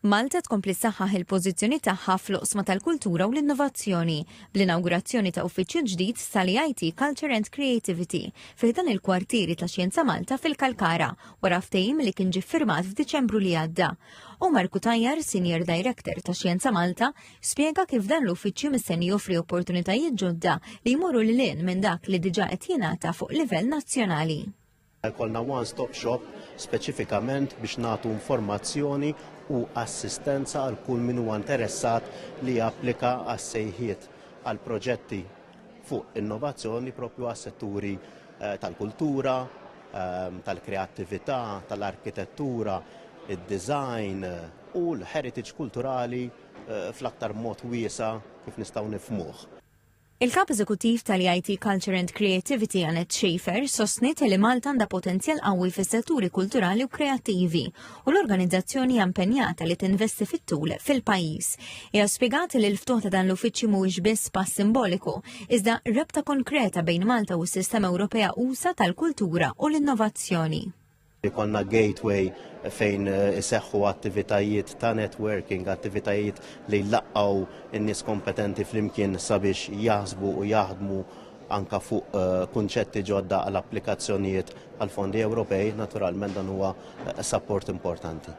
Malta tkompli ssaħħaħ il-pożizzjoni tagħha fl-oqsma tal-kultura u l-innovazzjoni bl-inawgurazzjoni ta' uffiċċju ġdid tal-EIT Culture and Creativity fi ħdan il-kwartieri ta' Xjenza Malta fil-Kalkara wara ftehim li kien ġie ffirmat f'Diċembru li għadda. Omar Cutajar, Senior Director ta' Xjenza Malta, spjega kif dan l-uffiċċju mistenni joffri opportunitajiet ġodda li jmorru lil hinn minn dak li diġà qed jingħata fuq livell nazzjonali. Jkollna one-stop shop speċifikament biex nagħtu informazzjoni u assistenza għal kull min huwa interessat li japplika għas-sejħiet għal proġetti fuq innovazzjoni propju għas-setturi eh, tal-kultura, ehm, tal-kreattività, tal-arkitettura, id-design u l-heritage kulturali eh, fl-aktar mod wiesa kif nistgħu nifmuh. Il-Kap Eżekuttiv tal-EIT Culture and Creativity Annette Schaefer sostniet li Malta għandha potenzjal qawwi fis-setturi kulturali u kreattivi u l-organizzazzjoni hija impenjata li tinvesti fit-tul fil-pajjiż. Hija spjegat li l-ftuħ ta' dan l-uffiċċju mhuwiex biss pass simboliku, iżda rabta konkreta bejn Malta u s-sistema Ewropea usa tal-kultura u l-innovazzjoni. Ikollna gateway fejn eh, iseħħu attivitajiet ta' networking, attivitajiet li jlaqqaw in-nies kompetenti flimkien sabiex jaħsbu u jaħdmu anka fuq eh, kunċetti ġodda għal applikazzjonijiet għal fondi Ewropej, naturalment dan huwa eh, support importanti.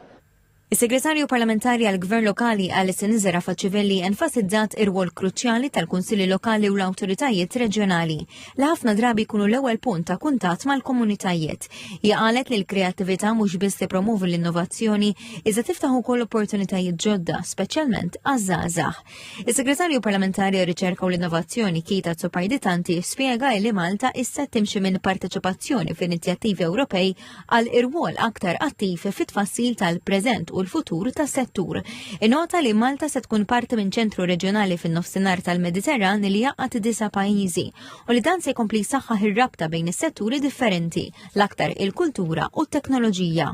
Is-Segretarju Parlamentari għall-Gvern Lokali Alison Zerafa Civelli enfasizzat ir-rwol kruċjali tal-Kunsilli Lokali u l-awtoritajiet reġjonali li ħafna drabi jkunu l-ewwel punt ta' kuntatt mal-komunitajiet. Hija qalet li l-kreattività mhux biss tippromovi l-innovazzjoni iżda tiftaħ ukoll opportunitajiet ġodda, speċjalment għaż-żgħażagħ. Is-Segretarju Parlamentari għar-Riċerka u l-Innovazzjoni Kita Tsopardi Tanti spjega li Malta issa timxi minn parteċipazzjoni f'inizjattivi Ewropej għal irwol aktar attiv fit-tfassil tal-preżent u l-futur tas-settur. Inota li Malta se tkun parti minn ċentru reġjonali fin-nofsinhar tal-Mediterran li jaqgħad disa' pajjiżi u li dan se jkompli jsaħħaħ ir-rabta bejn is-setturi differenti, l-aktar il-kultura u t-teknoloġija.